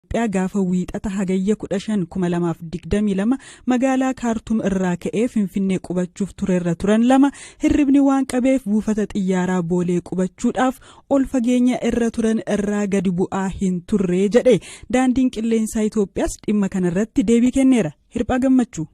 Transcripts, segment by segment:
Itiyoophiyaa gaafa Wiixata Hagayya 15, 2022 magaalaa Kaartum irraa ka'ee Finfinnee qubachuuf turerra turan lama hirribni waan qabeef buufata xiyyaaraa Boolee qubachuudhaaf ol fageenya irra turan irraa gadi bu'aa hin turre jedhe. Daandiin Qilleensaa Itiyoophiyaas dhimma kanarratti deebii kenneera. Hirphaa Gammachuu.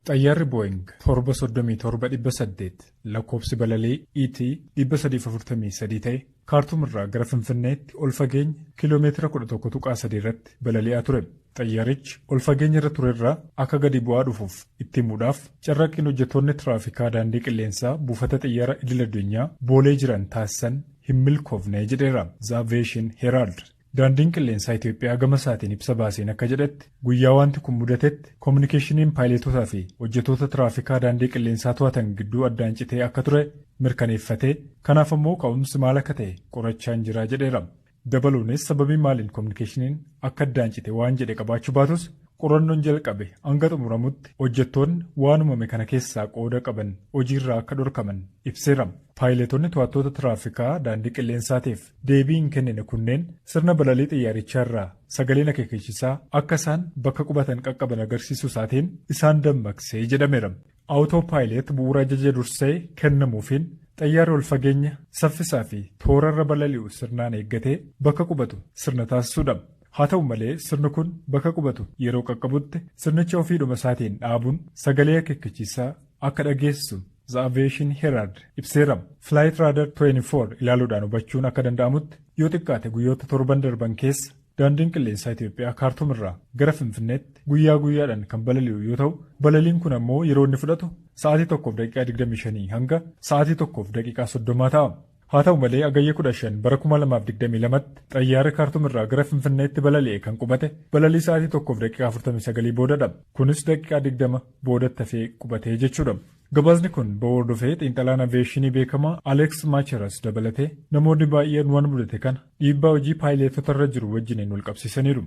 Xayyaarri Booying 737 800 lakkoofsi balalii ET 343 ta'e Kaartuum irraa gara Finfinneetti ol fageenya kiiloo meetira 11.3 irratti balali'aa ture. Xayyaarichi ol fageenya irra ture irraa akka gadi bu'aa dhufuuf itti himuudhaaf carraaqqiin hojjettoonni tiraafikaa daandii qilleensaa buufata xiyyaara idil addunyaa Boolee jiran taasisan hin milkoofne jedheera The Aviation Herald. Daandiin Qilleensaa Itoophiyaa gama isaatiin ibsa baaseen akka jedhetti, guyyaa waanti kun mudatetti kominikeeshiniin paayileetotaa fi hojjetoota tiraafikaa daandii qilleensaa to'atan gidduu addaan citee akka ture mirkaneeffatee, kanaaf ammoo ka'umsi maal akka ta'e qorachaan jira jedheera. Dabaluunis sababii maaliin kominikeeshiniin akka addaan cite waan jedhe qabaachuu baatus qorannoon jalqabe hanga xumuramutti hojjettoonni waan uumame kana keessaa qooda qaban hojiirraa akka dhorkaman ibseera. Paayileetonni to'attoota tiraafikaa daandii qilleensaatiif Deebii hin kennine kunneen sirna balalii xiyyaarichaa irraa sagaleen akeekechisaa akka isaan bakka qubatan qaqqaban agarsiisuu isaatiin isaan dammaqse jedhameera. Autopilot bu'uura ajaja dursee kennamuufiin xayyaarri ol fageenya, saffisaa fi toora irra balali'u sirnaan eeggatee bakka qubatu sirna taasisuudha. Haa ta'u malee sirni kun bakka qubatu yeroo qaqqabutti sirnicha ofiidhuma isaatiin dhaabuun sagalee akeekkachiisaa akka dhageessisu The Aviation Herald ibseera. Flight Radar 24 ilaaluudhaan hubachuun akka danda'amutti yoo xiqqaate guyyoota torban darban keessa daandiin qilleensaa Itoophiyaa Kaartuum irraa gara Finfinneetti guyyaa guyyaadhaan kan balali'u yoo ta'u balaliin kun ammoo yeroo inni fudhatu sa'aatii 1 daqiiqaa 25 hanga sa'aatii 1 daqiiqaa 30 ta'a. Haa ta'u malee Hagayya 15 bara 2022tti xayyaarri Kaartum irraa gara Finfinneetti balali'e kan qubate balalii sa'aatii 1:49 boodadha. Kunis daqiiqaa 20 boodatti hafee qubate jechuudha. Gabaasni kun ba'uu hordofee xiinxalaan aviyeeshinii beekamaa Alex Macheras dabalatee namoonni baay'een waan mudate kana dhiibbaa hojii paayileetota irra jiru wajjiniin walqabsiisaniiru.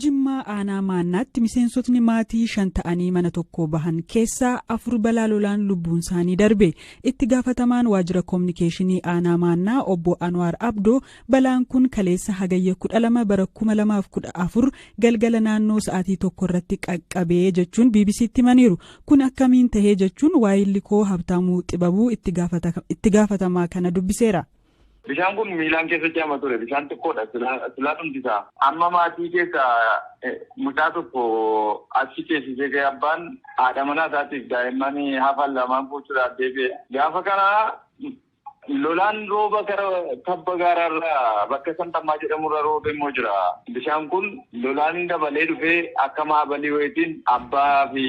Jimmaa aanaa maannaatti miseensotni maatii shan ta'anii mana tokkoo bahan keessaa afur balaa lolaan lubbuun isaanii darbe. Itti gaafatamaan waajjira koominikeeshinii aanaa maannaa obbo Anwaar Abdoo balaan kun kaleessa hagayya 12 bara 2014 galgala naannoo sa'aatii tokko irratti qaqqabee jechuun BBC'tti himaniiru. Kun akkamiin tahee jechuun waayilli koo Habtaamuu Xibabuu itti gaafatamaa kana dubbiseera. Bishaan kun miilaan keessa ce'ama ture. Bishaan xiqqoodha. Silaa dhumti isaa. Amma maatii keessaa mucaa tokko achi ceesisee ka'ee abbaan haadha manaa isaatiif daa'imman hafan lamaan fuuchuudhaaf deebi'e. Gaafa kana Lolaan rooba gara tabba gaaraarra bakka Santammaa jedhamurra roobe immoo jira. Bishaan kun lolaan dabalee dhufee akka maabalii wayiitiin abbaafi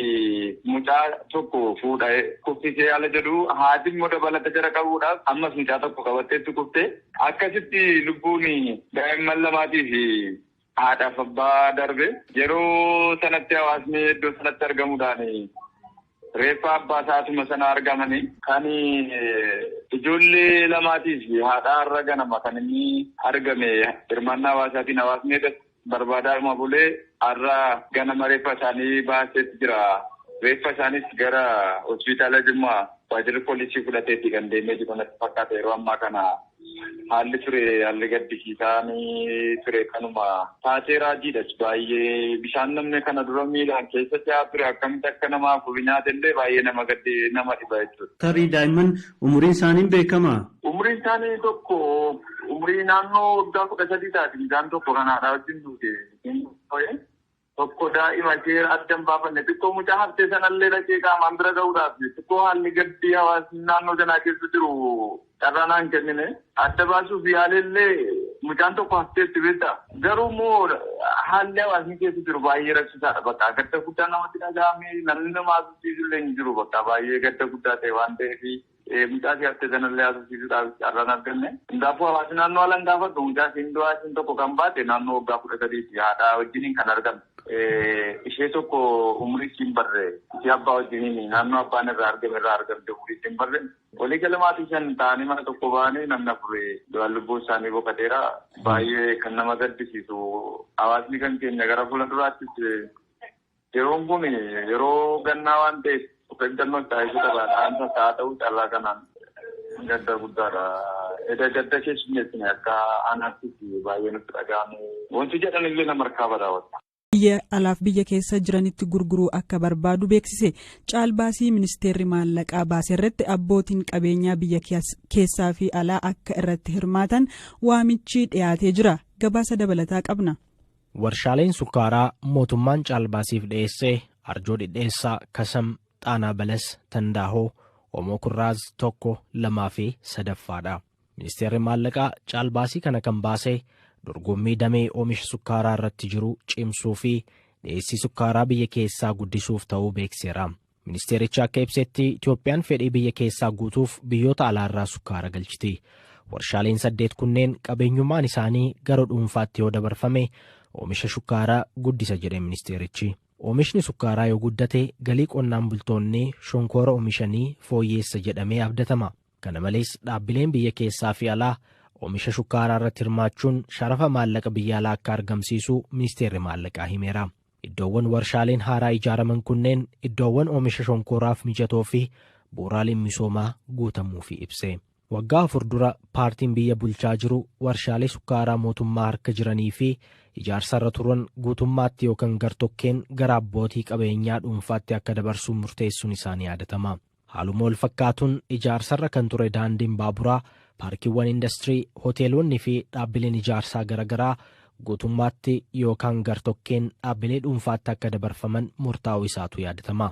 mucaa tokko fuudha kuffisee ala jedhu. Haati immoo dabalata jara qabuudhaaf ammas mucaa tokko qabatteetti kufte. Akkasitti lubbuun daa'imman lamaatiifi haadhaaf abbaa darbe. Yeroo sanatti hawaasni iddoo sanatti argamuudhaan reeffa abbaa isaa asuma sana argamani. Kan ijoollee lamaatii fi haadhaa har'a ganama kan inni argame hirmaannaa hawaasaatiin hawaasni edas barbaadaadhuma bulee har'a ganama reeffa isaanii baaseet jira. Reeffa isaaniis gara hospitaala Jimmaa waajirri poolisii fudhateeti kan deemee jiru natti fakkaata yeroo ammaa kana. Haalli ture haalli gaddisiisaan ture kanuma taatee raajiidhas baay'ee bishaan namni kana dura miilaan keessa ce'aa ture akkamitti akka nama afur nyaate illee baay'ee nama gaddi nama dhiba jechuudha. Tarii daa'imman umuriin isaanii hin beekamaa? Umuriin isaanii tokko umurii naannoo waggaa kudha sadii taati mucaan tokko kan haadhaa wajjin duute. tokko daa'ima ishee adda hin baafanne xiqqoo mucaa haftee sanallee dhaqee qaamaan bira ga'uudhaaf xiqqoo haalli gaddi hawaasni naannoo sanaa keessa jiru carraa naa hin kennine adda baasuuf yaaleellee mucaan tokko hafteetti beekta garuu immoo haalli hawaasni keessa jiru baay'ee rakkisaadha bakka gadda guddaa namatti dhaga'ame namni nama haasofsiisullee hin jiru bakka baay'ee gadda guddaa ta'e waan ta'eef Mucaa ishee haftee sanallee haasofsiisuudhaaf carraa hin arganne. Hundaafuu hawaasni naannoo haalan gaafadhu mucaa ishiin du'aa ishiin tokko kan baate naannoo waggaa kudha sadiiti. Haadhaa wajjiniin kan argamte. Ishee tokko umurii ishii hin barre. Ishee abbaa wajjiniin naannoo abbaan irraa argame irraa argamte umurii ishii hin barre. Walii gala maatii shan ta'anii mana tokko ba'anii namni afur du'aan lubbuun isaanii boqateera. Baay'ee kan nama gaddisiisu hawaasni kan keenya gara fuula duraattis Yeroon kun yeroo gannaa waan ta'eef of eeggannoo itti haa eeguu qaba. Dhaamsa isaa haa ta'uu carraa kanaan gadda guddaadha. Eda gadda keessummeessine akka aanaattis baay'ee nutti dhaga'ame. Wanti jedhan illee nama harkaa bada. Biyya alaaf biyya keessa jiranitti gurguruu akka barbaadu beeksise. Caalbaasii ministeerri maallaqaa baase irratti abbootiin qabeenyaa biyya keessaa fi alaa akka irratti hirmaatan waamichi dhiyaatee jira. Gabaasa dabalataa qabna. Warshaaleen sukkaaraa mootummaan caalbaasiif dhiyeesse Arjoo Dhidheessaa, Kasam, Xaanaa Balas, Tandaahoo, Omoo Kurraaz 1, 2 fi 3ffaa dha. Ministeerri Maallaqaa caalbaasii kana kan baase dorgommii damee oomisha sukkaaraa irratti jiru cimsuu fi dhiyeessii sukkaaraa biyya keessaa guddisuuf ta'uu beekseera. Ministeerichi akka ibsetti Itoophiyaan fedhii biyya keessaa guutuuf biyyoota alaarraa sukkaara galchiti. Warshaaleen saddeet kunneen qabeenyummaan isaanii gara dhuunfaatti yoo dabarfame oomisha shukkaaraa guddisa jedhe ministeerichi. Oomishni sukkaaraa yoo guddate galii qonnaan bultoonni shonkoora oomishanii fooyyeessa jedhamee abdatama. Kana malees dhaabbileen biyya keessaa fi alaa oomisha shukkaaraa irratti hirmaachuun sharafa maallaqa biyya alaa akka argamsiisu ministeerri maallaqaa himeera. Iddoowwan warshaaleen haaraa ijaaraman kunneen iddoowwan oomisha shonkooraaf mijatoo fi bu'uuraaleen misoomaa guutamuufii ibse. Waggaa afur dura paartiin biyya bulchaa jiru warshaalee sukkaaraa mootummaa harka jiranii fi ijaarsarra turan guutummaatti yookan gar-tokkeen gara abbootii qabeenyaa dhuunfaatti akka dabarsu murteessuun isaa ni yaadatama. Haaluma walfakkaatuun ijaarsarra kan ture daandiin baaburaa, paarkiiwwan indastirii, hoteelonni fi dhaabbileen ijaarsaa garagaraa guutummaatti yookaan gartokkeen dhaabbilee dhuunfaatti akka dabarfaman murtaa'uu isaatu yaadatama.